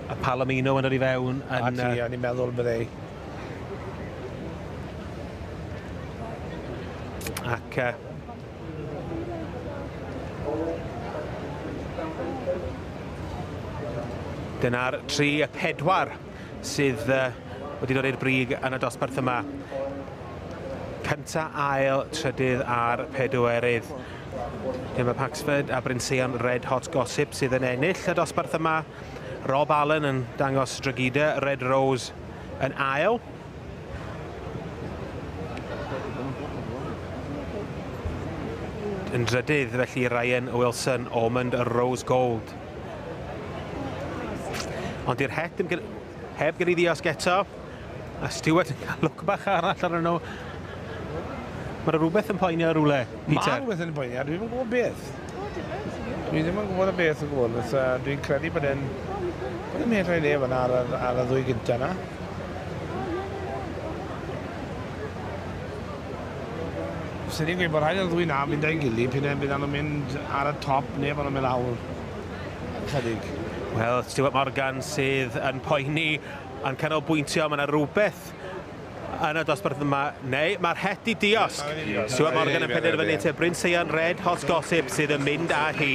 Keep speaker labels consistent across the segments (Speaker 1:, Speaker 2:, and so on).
Speaker 1: A Palomino yn yr i fewn. Yn, a ti, a ni'n meddwl
Speaker 2: bydde
Speaker 1: ac uh, dyna'r tri y pedwar sydd wedi dod i'r brig yn y dosbarth yma. Cynta, ail, trydydd a'r pedwerydd. Dyma Paxford a Bryn Seion Red Hot Gossip sydd yn ennill y dosbarth yma. Rob Allen yn dangos Dragida Red Rose yn ail. Yn drydydd felly Ryan Wilson Ormond Rose Gold. Ond i'r het yn heb gael ei ddiosg eto. A Stewart yn cael look bach arall ar nhw. Mae rhywbeth yn poenio rhywle, Peter. Mae rhywbeth yn poenio, dwi'n yn
Speaker 2: gwybod beth. Dwi ddim yn gwybod y beth yn gwybod, beth, uh, dwi'n credu bod e'n... Bod e'n medrau le fyna ar, ar, ar y ddwy gyntaf yna. Swn i'n gweud bod rhaid i'r ddwy 'na fynd â'i gilydd, p'un ai byddan nhw'n mynd ar y top neu bod nhw'n mynd lawr ychydig. Wel,
Speaker 1: Stuart Morgan sydd yn poeni, yn canolbwyntio, mae yna rhywbeth yn y dosbarth yma, neu mae'r het di diosg. Stuart Morgan yn penderfynu te Bryn Seian Red Hot Gossip sydd yn mynd â hi.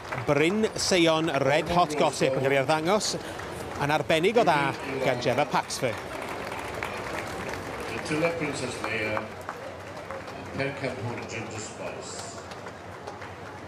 Speaker 1: Bryn Seion Red Hot Gossip yn cael ei arddangos yn arbennig o dda gan Gemma Paxford.
Speaker 3: Titilla Princess Leia yn pencampwr Ginger Spice.